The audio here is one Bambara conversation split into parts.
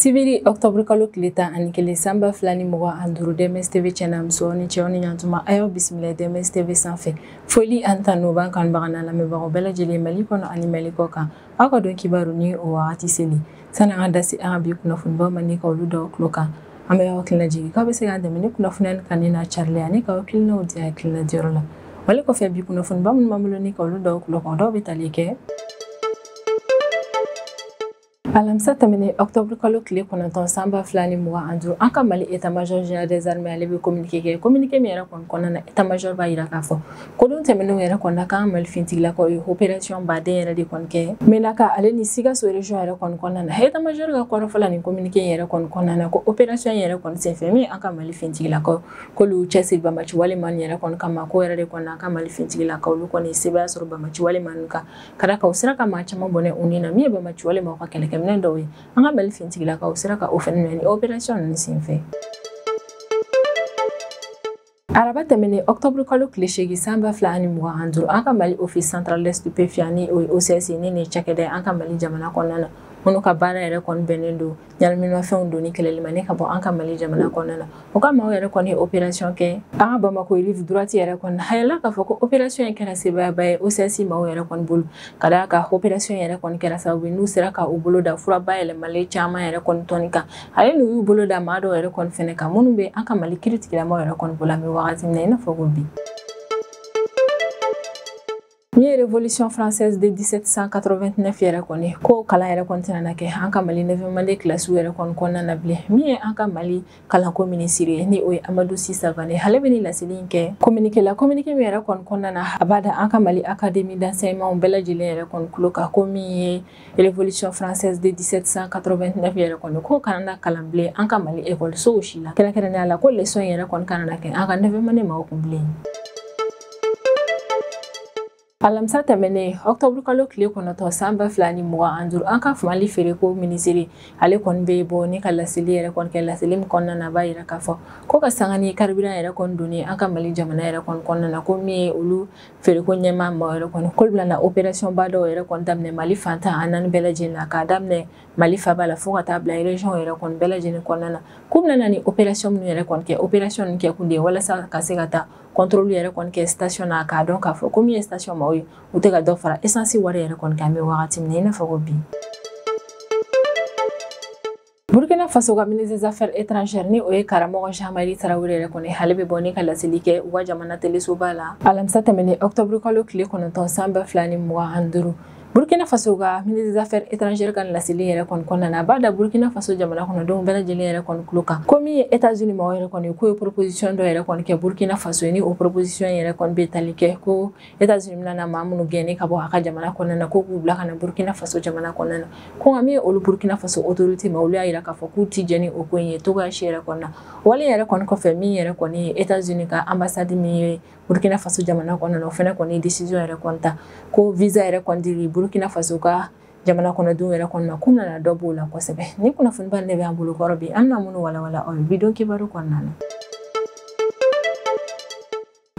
sibiri ɔktɔburu kalo tile tan ani kelen san ba fila ni mugan ani duuru dms tv cɛ n'a muso aw ni ce aw ni yan tuma a y'aw bisimila dms tv sanfɛ foli an ta n'o b'an kanubagaw n'an lamɛnbagaw bɛɛ lajɛlen mali kɔnɔ ani mali kɔkan aw ka don kibaru ni o wagati selen sani an ka da se an ka bi kunnafonibaw ma ni ka olu d'aw tulo kan an bɛ aw hakilina jigin k'aw bɛ se k'an dɛmɛ ni kunnafoniya ni kanuni n'a carili ani ka hakilinaw di hakilina diyɔrɔ la wale kɔfɛ bi kunnafoniba minnu b'an bolo ni ka olu d'aw tulo kan dɔw bɛ tali kɛ alamisa tɛmɛnen ɔktɔburu kalo tile kɔnɔntɔn san ba fila ni mugan ani duuru an ka mali état major général des armées ale bɛ communiqué kɛ communiqué min yɛrɛ kɔni kɔnɔna na état major b'a jira k'a fɔ Ko don tɛmɛnenw yɛrɛ kɔnɔna k'an ka Mali fintigilakaw ye opération ba dɔw yɛrɛ de kɔni kɛ Menaka ale ni Sikaso région yɛrɛ kɔni kɔnɔna na état major ka kɔrɔfɔ la nin communiqué in yɛrɛ kɔni kɔnɔna na ko opération in yɛrɛ kɔni senfɛ min an ka Mali fintigilakaw k'olu cɛsiri banbaanci wale maa nin yɛrɛ kɔni kama ko yɛrɛ de kɔni an ka Mali fintigilakaw olu kɔni sebaaya sɔrɔ banbaanci wale maa ninnu kan ka d'a kan u sera ka maa caman bɔnɛ u ni na min ye banbaanci wale maaw ka kɛlɛkɛminɛn dɔw ye an ka Mali fintigilakaw sera ka o fɛnɛ minɛ ni opération ninnu senfɛ. araba tɛmɛnen octobre kalo tile seegin san ba fila ani mugan ani duuru an ka mali office central des stupéfiants ni o ye ocs ni nin cakɛda an ka mali jamana kɔnɔna na minnu ka baara yɛrɛ kɔni bɛnnen don ɲaminimafɛnw donni kɛlɛli ma ni ka bɔ an ka mali jamana kɔnɔna na o ka maaw yɛrɛ kɔni ye opération kɛ an ka bamako rive droite yɛrɛ kɔni hayɛla k'a fɔ ko opération in kɛra sebaayaba ye ocs maaw yɛrɛ kɔni bolo ka d'a kan opération yɛrɛ kɔni kɛra sababu n'u sera ka u bolo da fura bayɛlɛmalen caman yɛrɛ kɔni tɔni kan ale n'u y'u bolo da maa dɔw yɛrɛ kɔni fɛnɛ kan minnu bɛ an ka mali kiritigɛla maaw yɛrɛ kɔni bolo an bɛ wagati min na i n'a fɔ ko bi min ye révolution française de 1789 yɛrɛ kɔni ko kalan yɛrɛ kɔni tɛna na kɛ an ka mali neuvième année kilasiw yɛrɛ kɔni kɔnɔna na bilen min ye an ka mali kalanko minisiri ye ni o ye amadu si savane ale bɛ ni laseli in kɛ kominike la kominike min yɛrɛ kɔni kɔnɔna na a b'a da an ka mali académie d'enseignement bɛɛ lajɛlen yɛrɛ kɔni tulo kan ko min ye Révolution française de 1789 yɛrɛ kɔni ko kana na kalan bilen an ka Mali ekɔlisow si la kɛrɛnkɛrɛnnenya la ko leçon yɛrɛ kɔni kana na kɛ an ka neuvième année maaw kun bilen. alamisa tɛmɛnen ɔktɔburu kalo tile kɔnɔntɔn san ba fila ni mugan an duuru an ka mali feereko minisiri ale kɔni bɛ bɔ ni ka laseli yɛrɛ kɔni kɛ laseli min kɔnɔna na b'a yira k'a fɔ ko ka sanga ni carburant yɛrɛ kɔni donni an ka mali jamana yɛrɛ kɔni kɔnɔna na ko min ye olu feereko ɲɛmaa maaw yɛrɛ kɔni k'olu bɛna operasiyɔnba dɔw yɛrɛ kɔni daminɛ mali fan tan ni naani bɛɛ lajɛlen na k'a daminɛ mali faba la fo ka taa bila ereziyɔn yɛrɛ kɔni bɛɛ lajɛlen kɔnɔna na k'u bɛna ni operasiyɔn minnu yɛrɛ kɔni kɛ operasiyɔn ninnu kɛkun de ye walasa ka se ka taa kɔntɔrɔli yɛrɛ kɔni kɛ sitasiyon na k'a dɔn k'a fɔ ko min ye sitasiyon maaw ye u tɛ ka dɔ fara esansi wari yɛrɛ kɔni kan an bɛ wagati min na i n'a fɔ ko bi burkina faso ka ministre des affaires étrangères ni o ye karamɔgɔ jean-marie tarawele yɛrɛ kɔni ale bɛ bɔ ni ka laseli kɛ u ka jamana telesoba la alamisa tɛmɛnen octobre kalo tile kɔnɔntɔn san ba fila ni mugan ani duuru burkina faso ka ministre des affaires étrangères ka laseli yɛrɛ kɔni kɔnɔna na a b'a da burkina faso jamana kɔnɔdenw bɛɛ lajɛlen yɛrɛ kɔni tulo kan ko min ye états-unis maaw yɛrɛ kɔni k'o ye proposition dɔ yɛrɛ kɔni kɛ burkina faso ye ni o proposition yɛrɛ kɔni bɛ tali kɛ ko états unis bɛna maa minnu gɛn ni ka bɔ a ka jamana kɔnɔna na ko k'u bila ka na burkina faso jamana kɔnɔna na ko nka min ye olu burkina faso autorité maaw olu y'a yira k'a fɔ k'u ti jɛn ni o ko in ye cogoya si yɛrɛ kɔni na wale yɛrɛ kɔni kɔfɛ min yɛrɛ kɔni ye états unis ka ambassade min ye burkina faso jamana kɔnɔna na o fɛnɛ kɔni ye décision yɛrɛ kɔni ta ko visa yɛrɛ kɔni dili burkina faso ka jamana kɔnɔdenw yɛrɛ kɔni ma k'u nana dɔ b'o la kosɛbɛ ni kunnafoniba ne bɛ an bolo kɔrɔ bi an bɛna minnu walawala aw ye bi don kibaru kɔnɔna na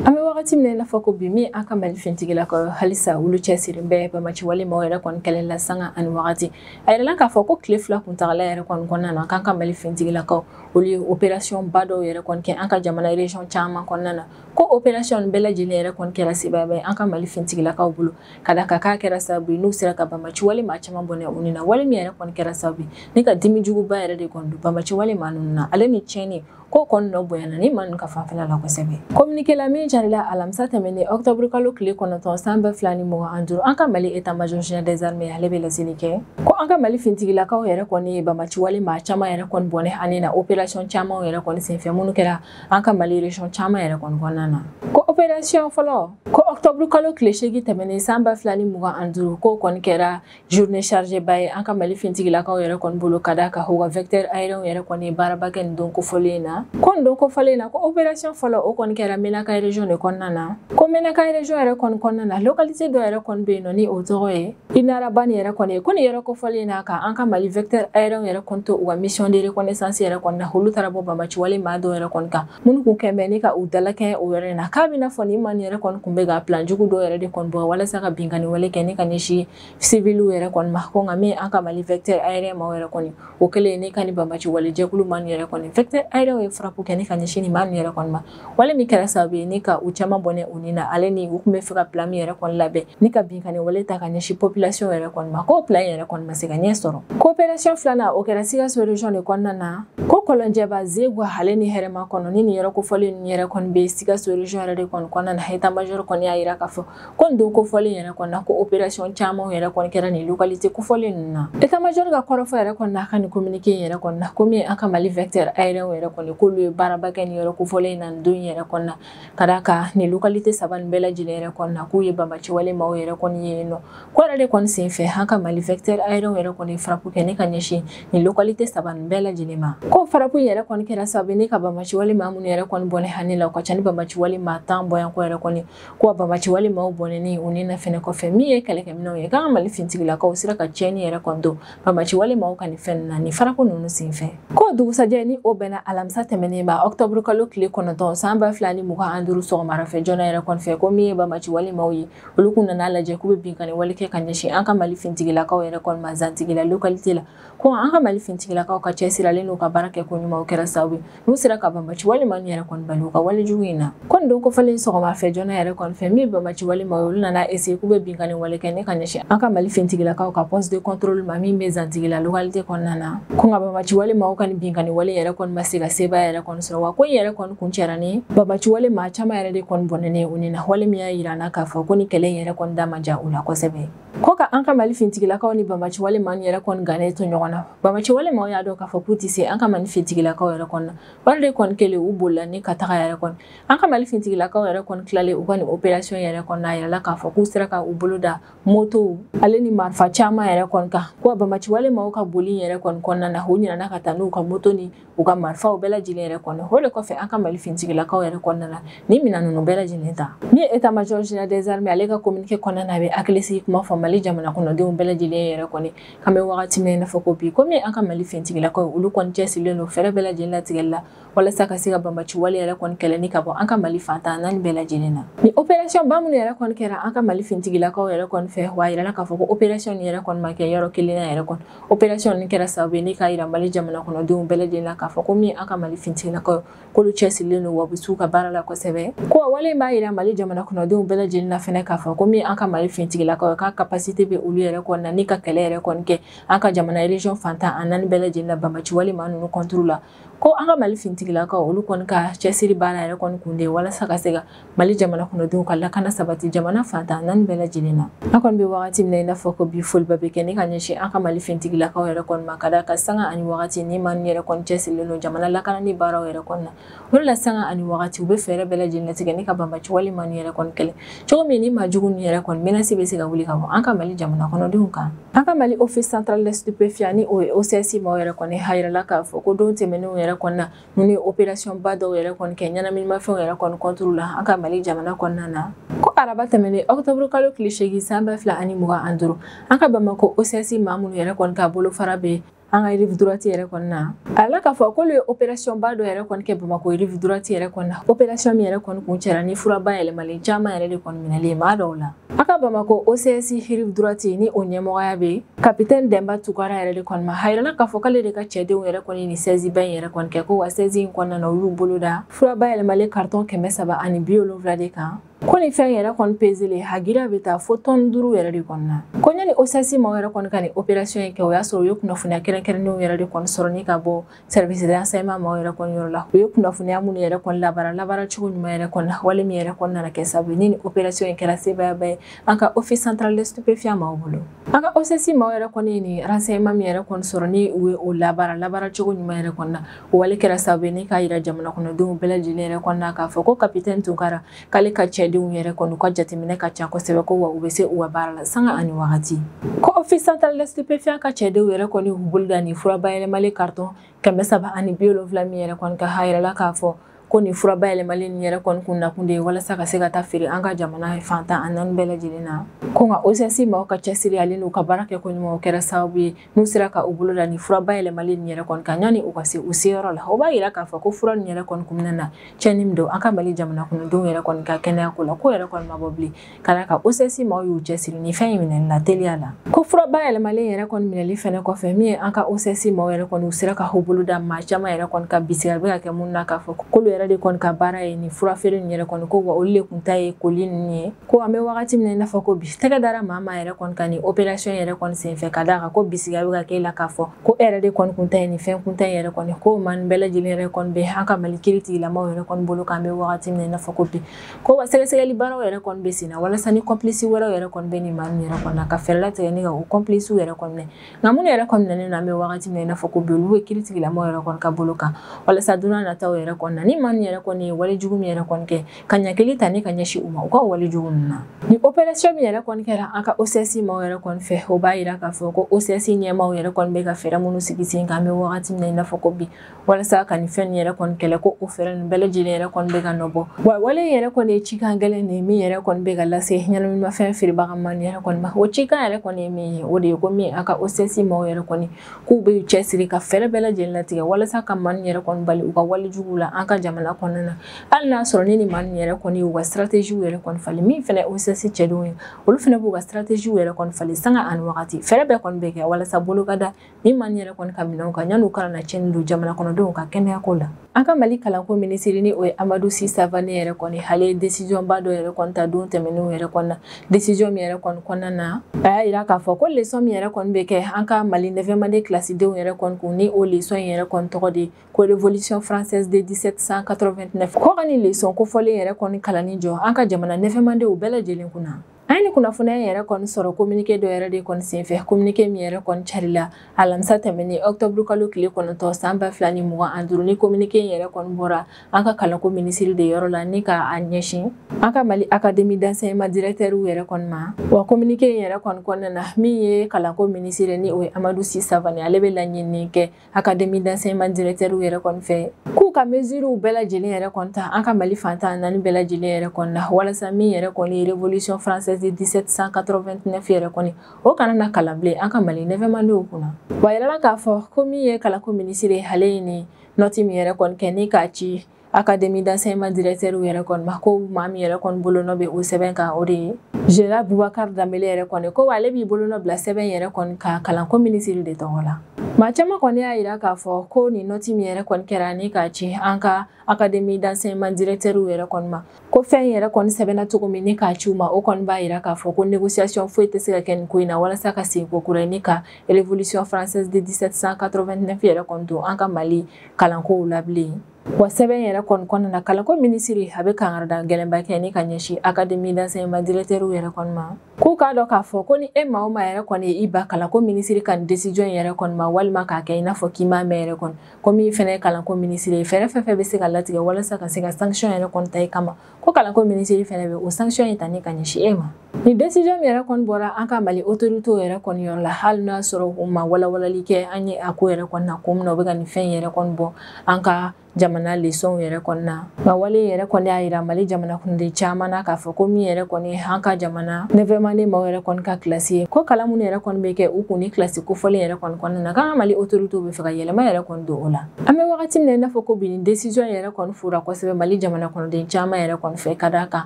an bɛ wagati min na i n'a fɔ ko bi min an ka mali fintigilakaw halisa olu cɛsirilen bɛ banbaanci wale maaw yɛrɛ kɔni kɛlɛ la sanga ani wagati a yirala k'a fɔ ko tile fila kuntagala yɛrɛ kɔni kɔnɔna na k'an ka mali fintigilakaw olu ye operasiyɔn ba dɔw yɛrɛ kɔni kɛ an ka jamana resiyɔn caman kɔnɔna na ko operasiyɔn bɛɛ lajɛlen yɛrɛ kɔni kɛra sebaya ye an ka mali fintigilakaw bolo ka d'a kan k'a kɛra sababu ye n'u sera ka banbaanci wale maa caman bɔnɛ u ni na wale min yɛrɛ kɔni kɛra sababu ye ni ka dimi juguba yɛrɛ de kɔni don banbaanci wale maa ninnu na ale ni tiɲɛni ko kɔni nɔ bonyana nin maa ninnu ka fanfɛla la kosɛbɛ kominike la min jirala alamisa tɛmɛnen ɔktɔburu kalo tile kɔnɔntɔn san ba fila ni mugan ani duuru an ka mali état major général des armées ale bɛ laseli kɛ ko an ka mali fintigilakaw yɛrɛ kɔni ye banbaanciwale maa caman yɛrɛ kɔni bɔnɛ u ni na opération camanw yɛrɛ kɔni senfɛ minnu kɛra an ka mali région caman yɛrɛ kɔni kɔnɔna na ko opération fɔlɔ ko ɔktɔburu kalo tile seegin tɛmɛnen san ba fila ni mugan ani duuru k'o kɔni kɛra journée chargée ba ye an ka mali fintigilakaw yɛrɛ kɔni bolo ka d'a kan u ka vecteur aérien yɛrɛ kɔni ye baaraba kɛ nin don kofɔlen na ko nin don kofɔlen na ko opération fɔlɔ o kɔni kɛra menaka région de kɔnɔna na ko menaka région yɛrɛ kɔni kɔnɔna na localité dɔ yɛrɛ kɔni bɛ yen nɔ ni o tɔgɔ ye inarabane yɛrɛ kɔni ye ko nin yɔrɔ kofɔlen na ka an ka mali vecteur aérien yɛrɛ kɔni to u ka mission de reconnaissance yɛrɛ kɔni na olu taara bɔ banbaanciwale maa dɔw yɛrɛ kɔni kan minnu kun kɛn bɛ ni ka u dalakɛɲɛ o yɔrɔ in na k'a b'i n'a fɔ nin maa ninnu yɛrɛ kɔni kun bɛ ka plan jugu dɔ yɛrɛ de kɔni bɔ walasa ka binkani wale kɛ ni ka ɲɛsin siviliw yɛrɛ kɔni ma ko nka min an ka mali vecteur aérien maaw yɛrɛ kɔni o kɛlen ni ka nin banbaanci wale jɛkulu maa ninnu yɛrɛ kɔni vecteur aérien ye frappe kɛ ni ka ɲɛsin nin maa ninnu yɛrɛ kɔni ma wale min kɛra sababu ye ni ka u caman bɔnɛ u ni na ale ni u tun b'a fɛ ka plan min yɛrɛ kɔni labɛn ni ka binkanni wale ta ka ɲɛsin population yɛrɛ kɔni ma k'o plan yɛrɛ kɔni ma se ka ɲɛ sɔrɔ ko opération filanan o kɛra sikaso region de kɔnɔna na ko kɔlɔnjɛba zegwa ale ni hɛrɛmakɔnɔ ni nin yɔrɔ kofɔlen ninnu yɛrɛ kɔni bɛ sikaso region yɛrɛ de kɔni kɔnɔna na état major kɔni y'a jira k'a fɔ ko nin don kofɔlen yɛrɛ kɔni na ko opération camanw yɛrɛ kɔni kɛra nin localité kofɔlen ninnu na état major ka kɔrɔfɔ yɛrɛ kɔni na a ka nin communiqué in yɛrɛ kɔni na ko min an ka mali vecteur aérien yɛrɛ kɔni k'olu ye baaraba kɛ nin yɔrɔ kofɔlen in na nin don yɛrɛ kɔni na ka d'a kan nin localité saba nin bɛɛ lajɛlen yɛrɛ kɔni na k'u ye banbaci wale maaw yɛrɛ kɔni ye yen n'o ko yɛrɛ de kɔni sen fɛ an ka mali vecteur aérien yɛrɛ kɔni frappe kɛ ni ka ɲɛsin nin localité saba nin bɛɛ lajɛlen ma ko frappe yɛrɛ kɔni kɛra sababu ni ka banbaci wale maa minnu yɛrɛ kɔni bɔnɛ a ni la o ka ca ni banbaci wale maa tan bɔɲɔgɔnko yɛrɛ kɔni ko wa banbaci wale maaw bɔnɛni u ni na fɛnɛ kɔfɛ min ye kɛlɛkɛminɛnw ye k'an ka mali fintigilakaw sera ka tiɲɛni yɛrɛ kɔni don Banbaci wale maaw ka nin fɛn na nin frappe ninnu senfɛ ko dugusajɛ ni o bɛnna alamisa tɛmɛnen ma ɔktɔburu kalo tile kɔnɔntɔn san ba fila ni mugan an duuru sɔgɔmada fɛ joona yɛrɛ kɔni fɛ ko min ye banbaci wale maaw ye olu kun nana a lajɛ k'u bɛ binkanni wale kɛ ka ɲɛsin an ka mali fintigilakaw yɛrɛ kɔni ma zantigila lokalite la ko an ka mali fintigilakaw ka cɛsiri ale n'u ka baarakɛko ɲuman o kɛra sababu n'u sera ka banbaci wale maa ninnu yɛrɛ kɔni bali u ka walejugu in na ko nin don kofɔlen sɔgɔma fɛ joona yɛrɛ kɔni fɛ min banbaci wale maaw ye olu nana essayer k'u bɛ binkanni wale kɛ ni ka ɲɛsin an ka mali fintigilakaw ka poste de contrôle ma min bɛ zantigila localité kɔnɔna na ko nka banbaci wale maaw ka nin binkanni wale yɛrɛ kɔni ma se ka sebaaya yɛrɛ kɔni sɔrɔ wa ko in yɛrɛ kɔni kuncɛra ni banbaci wale maa caman yɛrɛ de kɔni bɔnɛni ye u ni na wale min y'a yira an na k'a fɔ ko nin kɛlɛ in yɛrɛ kɔni da ma diya u la kosɛbɛ Ko ka an ka mali fintigilakaw ni banbaci wale maaw yɛrɛ kɔni gannen to ɲɔgɔn na banbaci wale maaw y'a dɔn k'a fɔ k'u tɛ se an ka mali fintigilakaw yɛrɛ kɔni na wale de kɔni kɛlen u bolila ni ka taga yɛrɛ kɔni an ka mali fintigilakaw yɛrɛ kɔni tilalen u ka nin operasiyɔn yɛrɛ kɔni na a yirala k'a fɔ k'u sera ka u bolo da motow ale ni marifa caman yɛrɛ kɔni kan ko banbaci wale maaw ka boli yɛrɛ kɔni kɔnɔna na u ɲinana ka taa n'u ka moto ni u ka marifaw bɛɛ lajɛlen yɛrɛ kɔni o de kɔfɛ an ka mali fintigilakaw yɛrɛ kɔni nana nin minɛn ninnu bɛɛ lajɛlen ta min ye état major général des armées ale ka communiqué kɔnɔna na a bɛ hakilisigi kuma fɔ mali jamana kɔnɔdenw bɛɛ lajɛlen yɛrɛ kɔni k'an bɛ wagati min na i n'a fɔ ko bi komi an ka mali fintigilakaw olu kɔni cɛsirilen don fɛɛrɛ bɛɛ lajɛlen latigɛli la walasa ka se ka banbaci wale yɛrɛ kɔni kɛlɛ ni ka bɔ an ka mali fan tan naani bɛɛ lajɛlen na nin opération ba minnu yɛrɛ kɔni kɛra an ka mali fintigilakaw yɛrɛ kɔni fɛ wa a yirala k'a fɔ ko opération nin yɛrɛ kɔni ma kɛ yɔrɔ kelen na yɛrɛ kɔni operasiyɔn nin kɛra sababu ye ni k'a yira mali jamana kɔnɔdenw bɛɛ lajɛlen na k'a fɔ ko min an ka mali fintigilakaw k'olu cɛsirilen don wa u bɛ s'u ka baara la kosɛbɛ ko wale in b'a yira mali jamana kɔnɔdenw bɛɛ lajɛlen na fɛnɛ k'a fɔ ko min an ka mali fintigilakaw ye k'a kapasite bɛ olu yɛrɛ kɔni na ni ka kɛlɛ yɛrɛ kɔni kɛ an ka jamana ereziyɔn fan tan ani naani bɛɛ lajɛlen na banbaci wale maa ninnu kɔnturu la ko an ka mali fintigilakaw olu kɔni ka cɛsiri baara yɛrɛ kɔni kun de walasa ka se ka mali jamana kɔnɔdenw ka lakana sabati jamana fan tan naani bɛɛ lajɛlen na an kɔni bɛ wagati min na i n'a fɔ ko bi foliba bɛ kɛ ni ka ɲɛsin an ka mali fintigilakaw yɛrɛ kɔni ma ka d'a kan sanga ani wagati nin maa ninnu yɛrɛ kɔni cɛsirilen don jamana lakanani baaraw yɛrɛ kɔni na o de la sanga ani wagati u bɛ fɛɛrɛ bɛɛ lajɛlen latigɛ ni ka banbaci wale maa ninnu yɛrɛ kɔni kɛlɛ cogo min nin maa jugu ninnu yɛrɛ kɔni menace bɛ se ka wuli ka bɔ an ka mali jamana kɔnɔdenw kan an ka mali office central des stupéfiants ni o ye ocs maaw yɛrɛ kɔni a yirala k'a fɔ ko don tɛmɛnenw yɛrɛ kɔni na ninnu ye opération ba dɔw yɛrɛ kɔni kɛ ɲɛnaminimafɛnw yɛrɛ kɔni contre la an ka mali jamana kɔnɔna na ko araba tɛmɛnen octobre kalo tile seegin san ba fila ani mugan an duru an ka bamako ocs maa minnu yɛrɛ kɔni ka bolofara bɛ an ka rive droite yɛrɛ kɔni na a la k'a fɔ k'olu ye opération ba dɔ yɛrɛ kɔni kɛ bamakɔ rive droite yɛrɛ kɔni na opération min yɛrɛ kɔni kuncɛra ni fura bayɛlɛmalen caman yɛrɛ de kɔni minɛli ye maa dɔw la an ka bamakɔ ocs rive droite ni o ɲɛmɔgɔya bɛ kapitɛni dɛnba tunkara yɛrɛ de kɔni ma a yirala k'a fɔ k'ale de ka cɛdenw yɛrɛ kɔni nin sɛzi ba in yɛrɛ kɔni kɛ ko wa sɛzi in kɔnɔna na u y'u bolo da fura bayɛlɛmalen karitɔn kɛmɛ saba ani bi wolonwula de kan ko nin fɛn yɛrɛ kɔni peselen a girinya bɛ taa fo tɔni duuru yɛrɛ de kɔni na ko yanni OCS maaw yɛrɛ kɔni ka nin operasiyɔn in kɛ o y'a sɔrɔ u ye kunnafoniya kɛrɛnkɛrɛnnenw yɛrɛ de kɔni sɔrɔ ni ka bɔ service de renseignement maaw yɛrɛ kɔni yɔrɔ la u ye kunnafoniya minnu yɛrɛ kɔni labaara labaara cogo ɲuman yɛrɛ kɔni na wale min yɛrɛ kɔni nana kɛ sabu ni nin operasiyɔn in kɛra sebaayaba ye an ka office central de stupéfiant maaw bolo an ka OCS maaw yɛrɛ kɔni ye nin renseignement min yɛrɛ kɔni sɔrɔ ni u ye o labaara labaara cogo ɲuman yɛrɛ kɔni na wale kɛra sababu ye ni k'a yira jamana kɔnɔdenw bɛɛ lajɛlen yɛrɛ kɔni na k'a fɔ ko kapitɛni tunkara k'ale ka cɛdenw yɛrɛ kɔni u ka jateminɛ ka ca kosɛbɛ ko wa u bɛ se u ka baara la sanga ani wagati ko office central de stupéfiant ka cɛdenw yɛrɛ kɔni u bolo da nin fura bayɛlɛmalen karitɔn kɛmɛ saba ani bi wolonwula min yɛrɛ kɔni kan a yirala k'a fɔ ko nin fura bayɛlɛmalen nin yɛrɛ kɔni kun nakun de ye walasa ka se ka taa feere an ka jamana fan tan ani naani bɛɛ lajɛlen na ko nka OCS maaw ka cɛsiri ale n'u ka baara kɛko ɲuman kɛra sababu ye n'u sera ka u bolo da nin fura bayɛlɛmalen nin yɛrɛ kɔni kan yanni u ka se u seyɔrɔ la o b'a yira k'a fɔ ko fura nin yɛrɛ kɔni kun bɛna na cɛnni min don an ka mali jamana kɔnɔdenw yɛrɛ kɔni ka kɛnɛya ko la k'o yɛrɛ kɔni ma bɔ bilen ka d'a kan OCS maaw y'u cɛsiri nin fɛn in minɛli la teliya la ko fura bayɛlɛmalen yɛrɛ kɔni minɛli fɛnɛ kɔfɛ min ye an ka OCS maaw yɛrɛ kɔni u sera ka u bolo da maa caman yɛrɛ kɔni kan bisigili bɛ ka kɛ minnu na k'a fɔ k'olu yɛrɛ de kɔni ka baara ye nin fura feere nin yɛrɛ kɔni ko wa olu de kun ta ye koli ninnu ye ko an bɛ wagati min na i n'a fɔ ko bi tɛgɛ dara maa min yɛrɛ kɔni kan nin opération yɛrɛ kɔni senfɛ ka d'a kan ko bisigili bɛ ka k'e la k'a fɔ ko e yɛrɛ de kɔni kun ta ye nin fɛn kun ta yɛrɛ kɔni ko maa nin bɛɛ lajɛlen yɛrɛ kɔni bɛ an ka mali kiiritigɛla maaw yɛrɛ kɔni bolo k'an bɛ wagati min na i n'a fɔ ko bi ko wa sɛgɛsɛgɛli baaraw yɛrɛ kɔni bɛ senna walasa ni kɔnpilisi wɛrɛw yɛrɛ kɔni bɛ nin maa ninnu yɛrɛ kɔni na ka fɛɛrɛ latigɛ ni ka o kɔnpilisiw yɛrɛ kɔni minɛ nka minnu yɛrɛ kɔni minɛnen don an bɛ wagati min na i n'a fɔ ko bi olu bɛ kiiritigɛla maaw yɛrɛ kɔni ka bolo kan walasa don n'a nataw yɛrɛ kɔni na nin maa ninnu yɛrɛ kɔni ye wale jugu min yɛrɛ kɔni kɛ ka ɲangili ta ni ka ɲɛsin u ma u ka wale jugu ninnu na nin operasiyɔn min yɛrɛ kɔni kɛra an ka OCS maaw yɛrɛ kɔni fɛ o b'a yira k'a fɔ ko OCS ɲɛmaaw yɛrɛ kɔni bɛ ka fɛɛrɛ minnu sigi sen kan an bɛ wagati min na i n'a fɔ ko bi walasa ka nin fɛn nin yɛrɛ kɔni kɛlɛ ko o fɛɛrɛ nin bɛɛ lajɛlen yɛrɛ kɔni bɛ ka nɔ bɔ wa wale yɛrɛ kɔni ye cikan gɛlɛn de ye min yɛrɛ kɔni bɛ ka lase ɲɛnaminimafɛn feerebaga maa nin yɛrɛ kɔni ma o cikan yɛrɛ kɔni ye min ye o de ye ko min an ka OCS maaw yɛrɛ kɔni k'u b'u cɛsiri ka fɛɛrɛ bɛɛ lajɛlen latigɛ walasa ka maa nin yɛrɛ kɔni bali u ka wale juguw la an ka jamana kɔnɔna na hali n'a sɔrɔ ni nin maa nin yɛrɛ kɔni ye u ka sirateziw yɛrɛ kɔni falen min fana OCS cɛdenw ye olu fana b'u ka sirateziw yɛrɛ kɔni falen sanga ani wagati fɛɛrɛ bɛɛ kɔni bɛ kɛ walasa bolo ka da Ni maa nin yɛrɛ kɔni ka minɛnw kan yan'u kana na cɛnni don jamana kɔnɔdenw ka kɛnɛyako la an ka mali kalanko minisiri ni o ye amadu si savane yɛrɛ kɔni ale ye desijɔnba dɔ yɛrɛ kɔni ta don tɛmɛnenw yɛrɛ kɔni na desijɔn min yɛrɛ kɔni kɔnɔna na a y'a yira k'a fɔ ko lesɔn min yɛrɛ kɔni bɛ kɛ an ka mali neuvième année kilasidenw yɛrɛ kɔni kun ni o lesɔn in yɛrɛ kɔni tɔgɔ de ko révolution française de 1789 ko ka ni lesɔn kofɔlen yɛrɛ kɔni kalanni jɔ an ka jamana neuvième annéew bɛɛ lajɛlen kunna an ye ni kunnafoniya in yɛrɛ kɔni sɔrɔ kominike dɔ yɛrɛ de kɔni senfɛ kominike min yɛrɛ kɔni carila alamisa tɛmɛnen ɔktɔburu kalo tile kɔnɔntɔn san ba fila ni mugan ani duuru ni kominike in yɛrɛ kɔni bɔra an ka kalanko minisiri de yɔrɔ la ni ka a ɲɛsin an ka mali akademi d'enseignement dirɛktɛriw yɛrɛ kɔni ma wa kominike in yɛrɛ kɔni kɔnɔna na min ye kalanko minisiri ni o ye amadu si savani ale bɛ laɲinini kɛ akademi d'enseignement dirɛtɛriw yɛrɛ kɔni fɛ k'u ka mesurew bɛɛ lajɛlen yɛrɛ kɔni ta an ka mali fan tan naani bɛɛ lajɛlen yɛrɛ kɔni na walasa min yɛrɛ kɔni ye révolution française de 1789 yɛrɛ kɔni o kana na kalan bilen an ka mali neuvième annéew kunna wa a yirala k'a fɔ ko min ye kalanko minisiri ale ye nin nɔti min yɛrɛ kɔni kɛ ni k'a ci akademi d'enseignement directeur yɛrɛ kɔni ma ko maa min yɛrɛ kɔni bolo nɔ bɛ o sɛbɛn kan o de ye général bubakar danbele yɛrɛ kɔni ko ale b'i bolo nɔ bila sɛbɛn yɛrɛ kɔni kan kalanko minisiri de tɔgɔ la maa caman kɔni y'a yira k'a fɔ ko nin nɔti min yɛrɛ kɔni kɛra ni k'a ci an ka akademi d'enseignement directeur yɛrɛ kɔni ma ko fɛn yɛrɛ kɔni sɛbɛnna cogo min ni k'a ci u ma o kɔni b'a yira k'a fɔ ko négociation foyi tɛ se ka kɛ nin ko in na walasa ka segin ko kura ye ni ka révolution française de 1789 yɛrɛ kɔni don an ka mali kalankow la bilen wa sɛbɛn yɛrɛ kɔni kɔnɔna na kalanko minisiri a bɛ kangarida gɛlɛnba kɛ ni ka ɲɛsin akademi d'enseignement dirɛtɛriw yɛrɛ kɔni ma k'u k'a dɔn k'a fɔ ko ni e maa o maa yɛrɛ kɔni ye i ban kalanko minisiri ka nin desijɔn in yɛrɛ kɔni ma walima k'a kɛ i n'a fɔ k'i m'a mɛn yɛrɛ kɔni ko min fɛnɛ ye kalanko minisiri ye fɛɛrɛ fɛn fɛn bɛ se ka latigɛ walasa ka se ka sanction yɛrɛ kɔni ta i kama ko kalanko minisiri fɛnɛ bɛ o sanction in ta ni ka ɲɛsin e ma nin décision min yɛrɛ kɔni bɔra an ka mali autoritew yɛrɛ kɔni yɔrɔ la hali n'a sɔrɔ u ma walawalali kɛ an ye a ko yɛrɛ kɔni na ko min na u bɛ ka nin fɛn yɛrɛ kɔni bɔ an ka jamana lesɔnw yɛrɛ kɔni na nka wale yɛrɛ kɔni y'a yira mali jamana kɔnɔden caman na k'a fɔ ko min yɛrɛ kɔni an ka jamana neuvième année maaw yɛrɛ kɔni ka kilasi ye ko kalan minnu yɛrɛ kɔni bɛ kɛ u kun ni kilasi kofɔlen yɛrɛ kɔni kɔnɔna na k'an ka mali autoritew bɛ fɛ ka yɛlɛma yɛrɛ kɔni don o la an bɛ wagati min na i n'a fɔ ko bi nin desizɔn yɛrɛ kɔni fora kosɛbɛ mali jamana kɔnɔden caman yɛrɛ kɔni fɛ ka d'a kan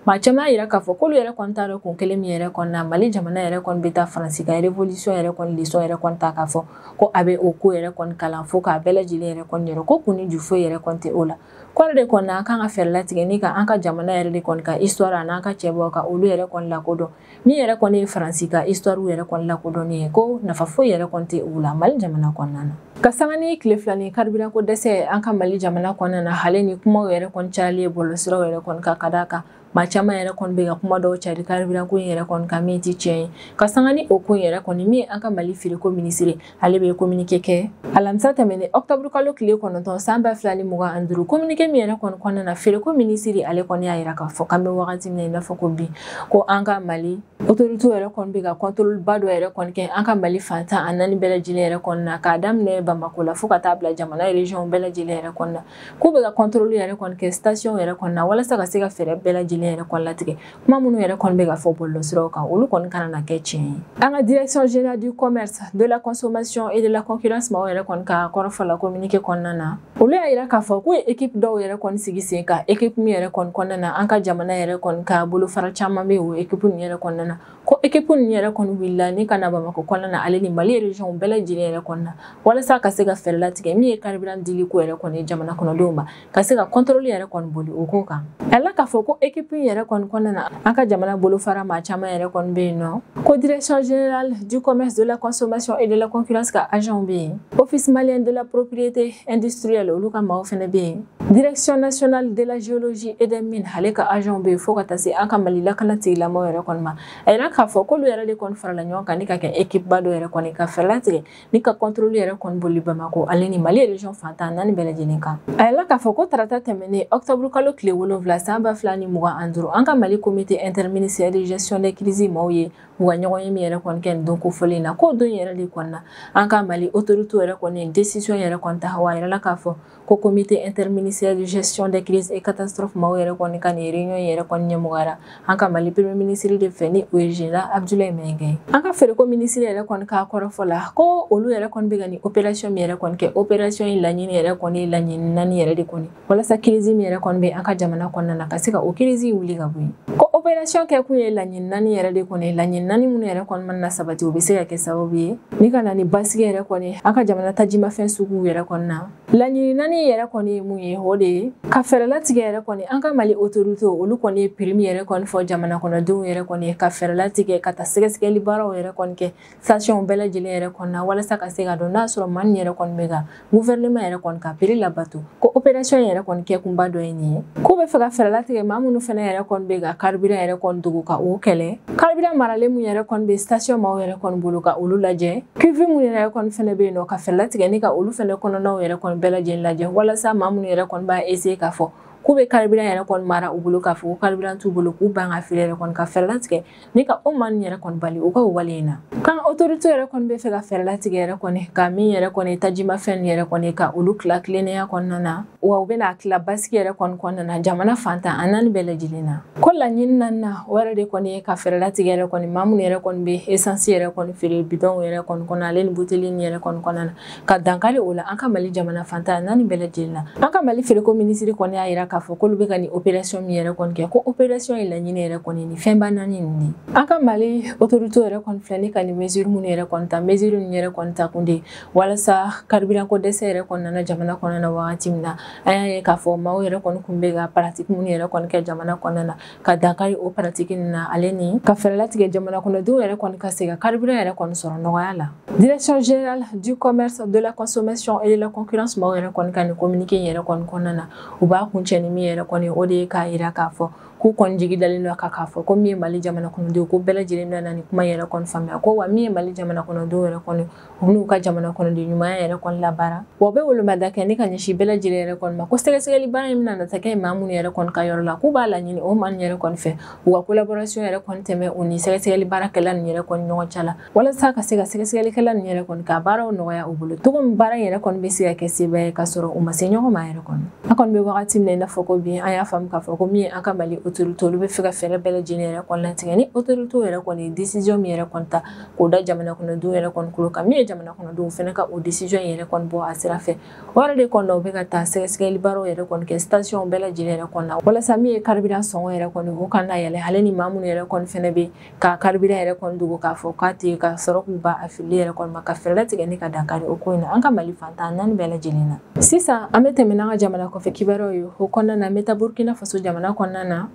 maa caman y'a yira k'a fɔ k'olu yɛrɛ kɔni t'a dɔn kun kelen min yɛrɛ kɔni na mali jamana yɛrɛ kɔni bɛ taa faransi ka revolisiyɔn yɛrɛ kɔni lesɔn yɛrɛ kɔni ta k'a fɔ ko a bɛ o ko yɛrɛ kɔni kalan fo k'a bɛɛ lajɛlen yɛrɛ kɔni yira ko kun ni ju foyi yɛrɛ kɔni tɛ o la kɔrɔ de kɔni an kan ka fɛɛrɛ latigɛ ni ka an ka jamana yɛrɛ de kɔni ka histoire an'an ka cɛbaw ka olu yɛrɛ kɔni lakodɔn min yɛrɛ kɔni ye faransi ka histoire yɛrɛ kɔni lakodɔnni ye ko nafa foyi yɛrɛ kɔni tɛ u la mali jamana kɔnɔna na ka sanga ni tile fila ni karibiranko dɛsɛ an ka mali jamana kɔnɔna na hali ni kumaw yɛrɛ kɔni cayalen bɔlɔlɔsiraw yɛrɛ kɔni kan ka d'a kan maa caman yɛrɛ kɔni bɛ ka kuma dɔw cari karibiranko in yɛrɛ kɔni kan min tɛ tiɲɛ ye ka sanga ni o ko in yɛrɛ kɔni min ye an ka mali feereko minisiri ale bɛ kominike kɛ alamisa tɛmɛnen ɔkutɔburu kalo tile kɔnɔntɔn san ba fila ni mugan ani duuru kominike min yɛrɛ kɔni kɔnɔna na feereko minisiri ale kɔni y'a yira k'a fɔ k'an bɛ wagati min na i n'a fɔ ko bi ko an ka mali otorite yɛrɛ kɔni bɛ ka kɔntoliba dɔ yɛrɛ kɔni kɛ an ka mali fan tan ni naani bɛɛ lajɛlen yɛrɛ kɔnɔna na k'a daminɛ bamako la fo ka taa bila jamana rejiyɔnw bɛɛ lajɛlen yɛrɛ kɔnɔna k'u bɛ ka kɔntoli yɛrɛ kɔni kɛ sitasiɔnw yɛrɛ kɔnɔna walasa ka se ka fɛɛrɛ bɛɛ lajɛlen yɛrɛ kɔni latigɛ kuma minnu yɛrɛ kɔni bɛ ka fɔ bɔlɔlɔsiraw kan olu kɔni kana na kɛ tiɲɛ ye an ka direction générale du commerce de la consommation et de la concurrence maaw yɛrɛ kɔni ka kɔrɔfɔ la communiqué kɔnɔna na olu y'a yira k'a fɔ k'u ye ekipe dɔw yɛrɛ kɔni sigi sen kan ekipe min yɛrɛ kɔni kɔnɔna na an ka jamana yɛrɛ kɔni ka bolofara caman bɛ o ekipe ninnu yɛrɛ kɔnɔna na ko ekipe ninnu yɛrɛ kɔni wulila ni ka na bamakɔ kɔnɔna na ale ni mali regionw bɛɛ lajɛlen yɛrɛ kɔnɔna walasa ka se ka fɛɛrɛ latigɛ min ye carburant dili ko yɛrɛ kɔni ye jamana kɔnɔdenw ma ka se ka kɔntɔrɔli yɛrɛ kɔni boli o ko kan a la k'a fɔ ko ekipu yɛrɛ kɔni kɔnɔna na an ka jamana bolofara maa caman yɛrɛ kɔni bɛ yen nɔ ko direction générale du commerce de la consommation et de la concurrence ka agentw bɛ yen office malien de la propriété industrielle olu ka maaw fɛnɛ bɛ yen direction nationale de la géologie et des mines ale ka agent bɛ yen fo ka taa se an ka mali lakana tigilamɔgɔw yɛrɛ kɔni ma a yirala k'a fɔ k'olu yɛrɛ de kɔni farala ɲɔgɔn kan ni ka kɛ ekipuba dɔ yɛrɛ kɔni ka fɛɛrɛ latigɛ ni ka kɔntoroli yɛrɛ kɔni boli bamakɔ ale ni mali region fan tan ni naani bɛɛ lajɛlen kan a yirala k'a fɔ ko tarata tɛmɛnen ɔktɔburu kalo tile wolonfila san ba fila ni mugan ani duuru an ka mali komite interministériel de gestion des crises maaw ye u ka ɲɔgɔnye min yɛrɛ kɔni kɛ nin don kofɔlen na k'o don yɛrɛ de kɔni na an ka mali autorité yɛrɛ kɔni ye desisiyɔn yɛrɛ kɔni ta wa a yirala k'a fɔ ko komite interministériel de gestion des crises et catastrophes maaw yɛrɛ kɔni ka nin réunion yɛrɛ kɔni ɲɛmɔgɔyara an ka mali premier ministre de fɛ ni o ye général abdoulaye maiga an ka feereko minisiri yɛrɛ kɔni ka kɔrɔfɔ la ko olu yɛrɛ kɔni bɛ ka nin opération min yɛrɛ kɔni kɛ opération in laɲini yɛrɛ kɔni ye laɲini naani yɛrɛ de kɔni walasa crise min yɛrɛ kɔni bɛ an ka jamana kɔnɔna na ka se ka o crise wuli ka bɔ yen ko opération kɛkun ye laɲini naani yɛrɛ de kɔni ye laɲini naani minnu yɛrɛ kɔni mana na sabati o bɛ se ka kɛ sababu ye ni ka na ni basigi yɛrɛ kɔni an ka jamana tajimafɛn suguw yɛrɛ kɔni na laɲini naani yɛrɛ kɔni ye mun ye o de ye ka fɛɛrɛ latigɛ yɛrɛ kɔni an ka mali otoritew olu kɔni ye piri min yɛrɛ kɔni fɔ jamana kɔnɔdenw yɛrɛ kɔni ye ka fɛɛrɛ latigɛ ka taa sɛgɛsɛgɛli baaraw yɛrɛ kɔni kɛ sitasiyɔnw bɛɛ lajɛlen yɛrɛ kɔnɔna walasa ka se ka dɔn n'a sɔrɔ maa nin yɛrɛ kɔni bɛ ka guvɛrɛnema yɛrɛ kɔni ka piri labato ko operasiyɔn in yɛrɛ kɔni kɛkunba dɔ ye nin ye k'u b'a fɛ ka fɛɛrɛ latigɛ maa minnu fɛnɛ yɛrɛ kɔni bɛ ka karibiran yɛrɛ kɔni dogo ka o kɛlɛ karibiran maralen min yɛrɛ kɔni bɛ stasiyɔn maaw yɛrɛ kɔni bolo ka olu lajɛ kivi minnu yɛrɛ kɔni fɛnɛ bɛ yen nɔ ka fɛɛrɛ latigɛ ni ka olu fɛnɛ kɔnɔnaw yɛrɛ kɔni bɛɛ lajɛlen lajɛ walasa maa minnu yɛrɛ kɔni b'a eseye k'a fɔ k'u bɛ karibiran yɛrɛ kɔni mara u bolo k'a fɔ ko karibiran t'u bolo k'u ban k'a feere yɛrɛ kɔni ka fɛɛrɛ latigɛ ni ka o maa nin yɛrɛ kɔni bali u ka o wale in na k'an otorite yɛrɛ kɔni bɛ fɛ ka fɛɛrɛ latigɛ yɛrɛ kɔni ka min yɛrɛ kɔni tajimafɛn nin yɛrɛ kɔni ka olu tila tilennenya kɔnɔna na wa u bɛna tila basigi yɛrɛ kɔni kɔnɔna na jamana fan tan ni naani bɛɛ lajɛlen na ko laɲini naaninan na o yɛrɛ de kɔni ye ka fɛɛrɛ latigɛ yɛrɛ kɔni maa minnu yɛrɛ kɔni bɛ esansi yɛrɛ kɔni feere bidɔnw yɛrɛ kɔni kɔnɔ ale ni buteli nin yɛrɛ kɔni kɔnɔna na ka dankari o la an ka mali jamana fan tan ni naani bɛɛ lajɛlen na an ka mali feereko minisiri kɔni y'a yira k'a fɔ k'olu bɛ ka nin operasiyɔn min yɛrɛ kɔni kɛ ko operasiyɔn in laɲini yɛrɛ kɔni ni fɛnba naani nin de an ka mali otorite yɛrɛ kɔni filɛ ni ka nin mesiri minnu yɛrɛ kɔni ta mesiri ninnu yɛrɛ kɔni ta kun de walasa karibiranko dɛsɛ yɛrɛ kɔni nana jamana kɔnɔna na wagati min na an y'a ye k'a fɔ maaw yɛrɛ kɔni kun bɛ ka paratiki minnu yɛrɛ kɔni kɛ jamana kɔnɔna na ka dankari o paratiki nin na ale ni ka fɛɛrɛlatigɛ jamana kɔnɔdenw yɛrɛ kɔni ka se ka karibiran yɛrɛ kɔni sɔrɔ nɔgɔya la direction générale du commerce de la consommation et de la concurrence maaw yɛrɛ kɔni ka nin communiqué yɛrɛ kɔni kɔnɔna na u b'a kuncɛ ni min yɛrɛ kɔni o de ye k'a yira k'a fɔ k'u kɔni jigi dalen don a kan k'a fɔ ko min ye mali jamana kɔnɔdenw ko bɛɛ lajɛlen bɛna nin kuma yɛrɛ kɔni faamuya ko wa min ye mali jamana kɔnɔdenw yɛrɛ kɔni u n'u ka jamana kɔnɔden ɲumanya yɛrɛ kɔni labaara wa u bɛ wolomada kɛ ni ka ɲɛsin bɛɛ lajɛlen yɛrɛ kɔni ma ko sɛgɛsɛgɛli baara in bɛna na taa kɛ maa minnu yɛrɛ kɔni ka yɔrɔ la k'u b'a laɲini o maa yɛrɛ kɔni fɛ u ka collaboration yɛrɛ kɔni tɛmɛ u ni sɛgɛsɛgɛli baarakɛla nin yɛrɛ kɔni ɲɔgɔn cɛ la walasa ka se ka sɛgɛsɛgɛlikɛla nin yɛrɛ kɔni ka baaraw nɔgɔya u bolo cogo min baara in yɛrɛ kɔni bɛ se ka kɛ seba ye ka sɔrɔ u ma se ɲɔgɔn ma yɛrɛ kɔni an kɔni bɛ wagati min na i n'a fɔ ko bi an y'a faamu k'a fɔ ko min ye an ka mali autorité olu bɛ fɛ ka fɛɛrɛ bɛɛ lajɛlen yɛrɛ kɔni latigɛ ni autorité yɛrɛ kɔni ye décision min yɛrɛ kɔni ta k'o da jamana kɔnɔdenw yɛrɛ kɔni tulo kan min ye jamana kɔnɔdenw fɛnɛ ka o décision yɛrɛ kɔni bɔ a sira fɛ o yɛrɛ de kɔni na u bɛ ka taa sɛgɛsɛgɛli baaraw yɛrɛ kɔni kɛ station bɛɛ lajɛlen yɛrɛ kɔni na walasa min ye carburant sɔngɔ yɛrɛ kɔni o kana yɛlɛn ale ni maa minnu yɛrɛ kɔni fɛnɛ bɛ ka carburant yɛrɛ kɔni dogo k'a fɔ k'a tɛ ka sɔrɔ k'u b'a fili yɛrɛ kɔni ma ka fɛɛrɛ latigɛ ni ka dankari o ko in na an ka mali fan tan ni naani bɛɛ lajɛlen na sisan an bɛ tɛmɛ n'an ka jamana kɔfɛ kibaruyaw ye o kɔnɔna na an bɛ taa burkina faso jamana kɔnɔna na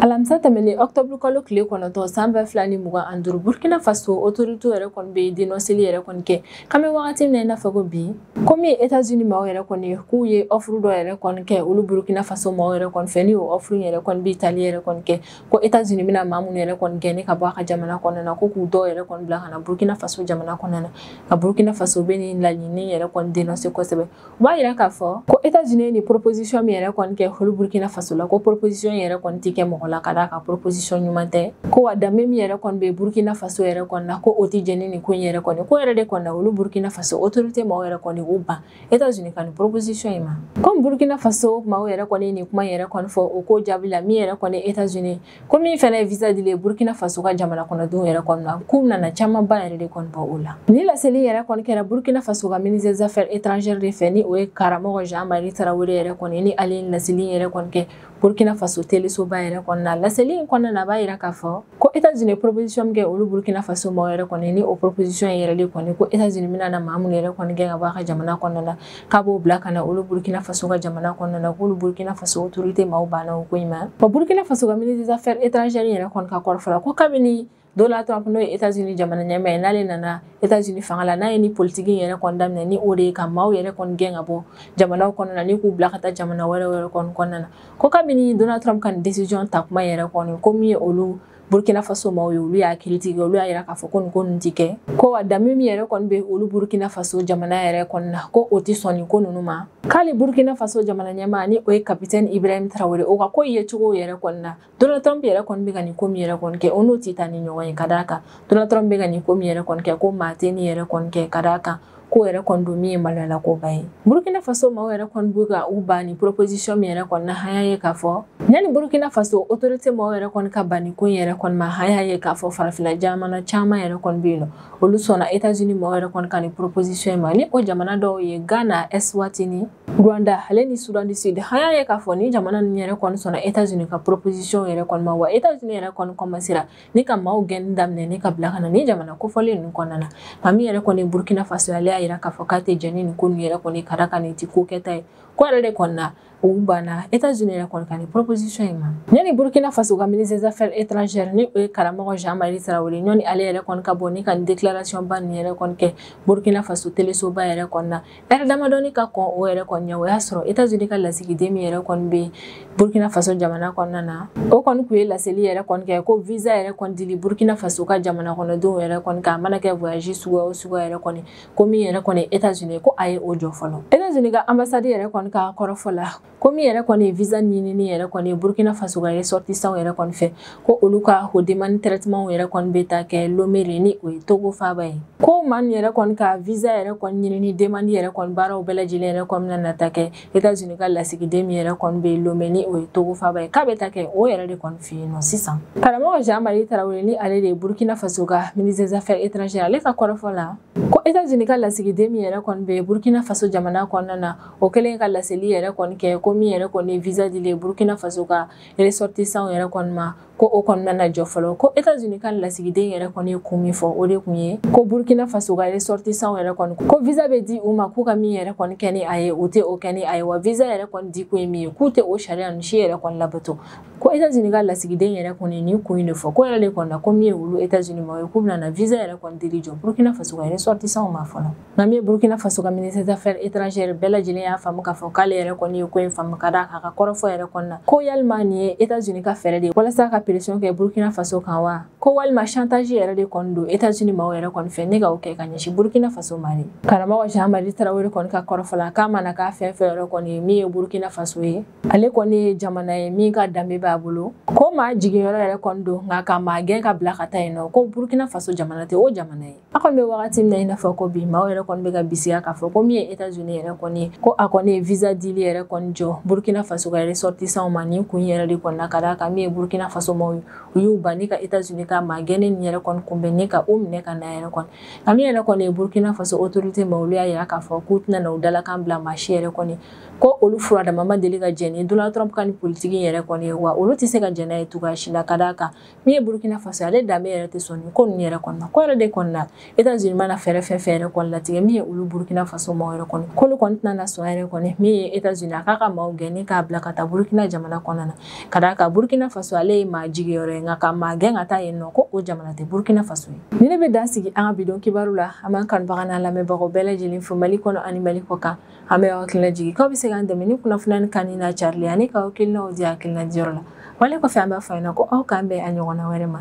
alamisa tɛmɛnen ɔktɔburu kalo tile kɔnɔntɔn san ba fila ni mugan ani duuru burkina faso otorite yɛrɛ kɔni bɛ denɔseli yɛrɛ kɔni kɛ k'an bɛ wagati min na i n'a fɔ ko bi komi etazini maaw yɛrɛ kɔni k'u ye ɔfuru dɔ yɛrɛ kɔni kɛ olu burkina faso maaw yɛrɛ kɔni fɛ ni o ɔfuru yɛrɛ kɔni bɛ tali yɛrɛ kɔni kɛ ko etazini bɛna maa minnu yɛrɛ kɔni gɛn ka bɔ a ka jamana kɔnɔna na ko k'u dɔw yɛrɛ kɔni bila ka na burkina faso jamana kɔnɔna na ka burkina faso bɛ nin laɲini yɛrɛ kɔni denɔse kosɛbɛ U b'a yira k'a fɔ ko États-Unis ye nin proposition min yɛrɛ kɔni kɛ olu Burkina Faso la ko proposition yɛrɛ kɔni tɛ kɛ mɔgɔ la ka d'a kan proposition ɲuman tɛ ko wa danbe min yɛrɛ kɔni bɛ Burkina Faso yɛrɛ kɔni na ko o tɛ jɛn ni nin ko in yɛrɛ kɔni k'o yɛrɛ de kɔni na olu Burkina Faso autorité maaw yɛrɛ kɔni u ban États-Unis ka nin proposition in ma comme Burkina Faso maaw yɛrɛ kɔni ye nin kuma yɛrɛ kɔni fɔ o ko jaabi la min yɛrɛ kɔni États-Unis ko min fana ye visa dili burkina faso ka jamana kɔnɔdenw yɛrɛ kɔni na k'u nana camanba yɛrɛ de kɔni bɔ o la ni laseli yɛrɛ kɔni kɛra burkina faso ka ministre des affaires étrangères de fɛ ni o ye karamɔgɔ jean marie tarawele yɛrɛ kɔni ni ale ye laseli yɛrɛ kɔni kɛ burkina faso telesoba yɛrɛ kɔni na laseli in kɔnɔna na a b'a yira k'a fɔ ko états unis proposition min kɛ olu burkina faso maaw yɛrɛ kɔni ni o proposition yɛrɛ de kɔni ko états unis bɛna na maa minnu yɛrɛ kɔni gɛn ka bɔ a ka jamana kɔnɔna na k'a b'o bila ka na olu burkina faso ka jamana kɔnɔna na k'olu burkina faso autorité maaw banna o ko in ma wa burkina faso ka ministre des affaires étrangères yɛrɛ kɔni ka kɔrɔfɔ la ko kabini Donald Trump n'o ye États-Unis jamana ɲɛmaa ye n'ale nana États-Unis fanga la n'a ye nin politiki in yɛrɛ kɔni daminɛ ni o de ye ka maaw yɛrɛ kɔni gɛn ka bɔ jamanaw kɔnɔna na ni k'u bila ka taa jamana wɛrɛw yɛrɛ kɔni kɔnɔna na ko kabini Donald Trump ka nin décision ta kuma yɛrɛ kɔni ko min ye olu burkina faso maaw ye olu y'a kiritigɛ olu y'a yira k'a fɔ ko nin ko ninnu ti kɛ ko wa danbe min yɛrɛ kɔni bɛ olu burkina faso jamana yɛrɛ kɔni na ko o tɛ sɔn nin ko ninnu ma k'ale burkina faso jamana ɲɛmaa ni o ye kapitɛni ibrahim tarawele o ka ko yecogo yɛrɛ kɔni na donald trump yɛrɛ kɔni bɛ ka nin ko min yɛrɛ kɔni kɛ o n'o tɛ taa ni ɲɔgɔn ye ka d'a kan donald trump bɛ ka nin ko min yɛrɛ kɔni kɛ ko maa tɛ nin yɛrɛ kɔni kɛ ka d'a kan ko yɛrɛ kɔni don min ye maloyala koba ye burkina faso maaw yɛrɛ kɔni bɛ ka u ban nin proposition in yɛrɛ kɔni na a y'a ye k'a fɔ yanni burkina faso autorité maaw yɛrɛ kɔni ka ban nin ko in yɛrɛ kɔni ma a y'a ye k'a fɔ farafina jamana caman yɛrɛ kɔni bɛ yen nɔ olu sɔnna états unis maaw yɛrɛ kɔni ka nin proposition ma ni o jamana dɔw ye ghana eswatini rwanda ale ni sudan du sud a y'a ye k'a fɔ nin jamana ninnu yɛrɛ kɔni sɔnna états unis ka proposition yɛrɛ kɔni ma wa états unis yɛrɛ kɔni kɔmansera ni ka maaw gɛnni daminɛ ni ka bila ka na nin jamana kofɔlen ninnu kɔnɔna na nka min yɛrɛ kɔni burkina faso ale y'a yira k'a fɔ k'a tɛ jɛn ni nin ko ninnu yɛrɛ kɔni ka d'a kan nin ti ko kɛta ye k'o yɛrɛ de kɔni na u banna etats unis yɛrɛ kɔni ka nin proposition in ma yanni burkina faso ka ministre des affaires étrangères ni o ye karamɔgɔ jean marie tarawele yanni ale yɛrɛ kɔni ka bɔ ni ka nin déclaration ba nin yɛrɛ kɔni kɛ burkina faso telesoba yɛrɛ kɔni na ɛri damadɔni ka kɔn o yɛrɛ kɔni ɲɛ o y'a sɔrɔ etazini ka lasigiden min yɛrɛ kɔni bɛ burkina faso jamana kɔnɔna na o kɔni tun ye laseli yɛrɛ kɔni kɛ ko visa yɛrɛ kɔni dili burkina faso ka jamana kɔnɔdenw yɛrɛ kɔni kan a mana kɛ voyage suguya o suguya yɛrɛ kɔni ko min yɛrɛ kɔni etazini ko a ye o jɔ fɔlɔ etazini ka anbasadi yɛrɛ kɔni ka kɔrɔfɔ la ko min yɛrɛ kɔni ye visa ɲinini yɛrɛ kɔni ye burkina faso ka ressortissants yɛrɛ kɔni fɛ ko olu ka o demande traitement yɛrɛ kɔni bɛ taa kɛ lome de ni o ye togo faaba ye ko maaw yɛrɛ kɔni ka visa yɛrɛ kɔni ɲinini demande yɛrɛ kɔni baaraw bɛɛ lajɛlen yɛrɛ kɔni bɛna na taa kɛ etats unis ka lasigiden min yɛrɛ kɔni bɛ lome ni o ye togo faaba ye k'a bɛ taa kɛ o yɛrɛ de kɔni fɛ yen nɔ sisan karamɔgɔ jean marie tarawele ni ale de ye burkina faso ka ministre des affaires étrangères ale ka kɔrɔfɔ la ko etats unis ka lasigiden min yɛrɛ kɔni bɛ burkina faso jamana kɔnɔna na o kɛlen ka laseli yɛrɛ kɔni kɛ ko min yɛrɛ kɔni visa dili burkina faso ka ressortissant yɛrɛ kɔni ma ko o kɔni bɛna jɔ fɔlɔ ko états-unis ka lasigiden yɛrɛ kɔni ye kun min fɔ o de kun ye ko burkina faso ka ressortissant yɛrɛ kɔni ko visa bɛ di u ma k'u ka min yɛrɛ kɔni kɛ ni a ye u tɛ o kɛ ni a ye wa visa yɛrɛ kɔni di kun ye min ye k'u tɛ o sariya ninnu si yɛrɛ kɔni labato ko états-unis ka lasigiden yɛrɛ kɔni nin kun in de fɔ k'o yɛrɛ de kɔni na ko min ye olu états-unis maaw ye k'u bɛna visa yɛrɛ kɔni dili jɔ burkina faso ka ressortissant ma fɔlɔ nka min ye burkina faso ka ministre d'affaires étrangères bɛɛ lajɛlen y'a faamu k'a fɔ k'ale yɛrɛ kɔni ye ko in faamu ka d'a kan a ka kɔrɔfɔ yɛrɛ kɔnɔna na ko yalima nin ye états-unis ka fɛɛrɛ de ye walasa ka pression kɛ burkina faso kan wa ko walima chantage yɛrɛ de kɔni don états-unis maaw yɛrɛ kɔni fɛ ni ka o kɛ ka ɲɛsin burkina faso ma de karamɔgɔ jean marie tarawele kɔni ka kɔrɔfɔ la k'a mana kɛ fɛn fɛn yɛrɛ kɔni ye min ye burkina faso ye ale kɔni ye jamana ye min ka danbe b'a bolo ko maa jiginyɔrɔ yɛrɛ kɔni don nka ka maa gɛn k'a bila ka taa yen nɔ ko burkina faso jamana tɛ o jamana ye a kɔni bɛ wagati min na i n'a fɔ ko bi maaw yɛrɛ kɔni bɛ ka bisiya k'a fɔ ko min ye etats unis yɛrɛ kɔni ye ko a kɔni ye visa dili yɛrɛ kɔni jɔ burkina faso ka ressortissantw ma nin kun yɛrɛ de kɔni na ka d'a kan min ye burkina faso maaw ye u y'u ban ni ka etats unis ka maa gɛnnen nin yɛrɛ kɔni kunbɛn ni ka u minɛ ka na yɛrɛ kɔni nka min yɛrɛ kɔni ye burkina faso autorité maaw olu y'a yira k'a fɔ k'u tɛna na u dalakan bila maa si yɛrɛ kɔni ko olu fura dama ma deli ka jɛn ni donald trump ka nin politiki yɛrɛ kɔni ye wa olu tɛ se ka jɛn n'a ye cogoya si la ka d'a kan min ye burukina faso ale danbe yɛrɛ tɛ sɔn nin ko ninnu yɛrɛ kɔni na k'o yɛrɛ de kɔni na etats unis mana fɛɛrɛ fɛn fɛn yɛrɛ kɔni latigɛ min ye olu burukina faso maaw yɛrɛ kɔni k'olu kɔni tɛna na sɔn yɛrɛ kɔni min ye etats unis a k'a ka maaw gɛn ni k'a bila ka taa burukina jamana kɔnɔna na ka d'a kan burukina faso ale ye maa jiginyɔrɔ ye nka ka maa gɛn ka taa yen nɔ ko o jamana tɛ burukina faso ye nin de bɛ dan sigi an ka bidon kibaru la an b'an kanubaga n'an lamɛnbagaw bɛɛ lajɛlen fo mali kɔnɔ ani mali kɔ kan an bɛ aw hakili lajigin k'aw bɛ se k'an dɛmɛ ni kunnafoniya nin kanuni n'a carili ani k'aw hakilinaw di hakilina diyɔrɔ la wale kɔfɛ an b'a fɔ aw ɲɛna ko aw k'an bɛn a ɲɔgɔnna wɛrɛ ma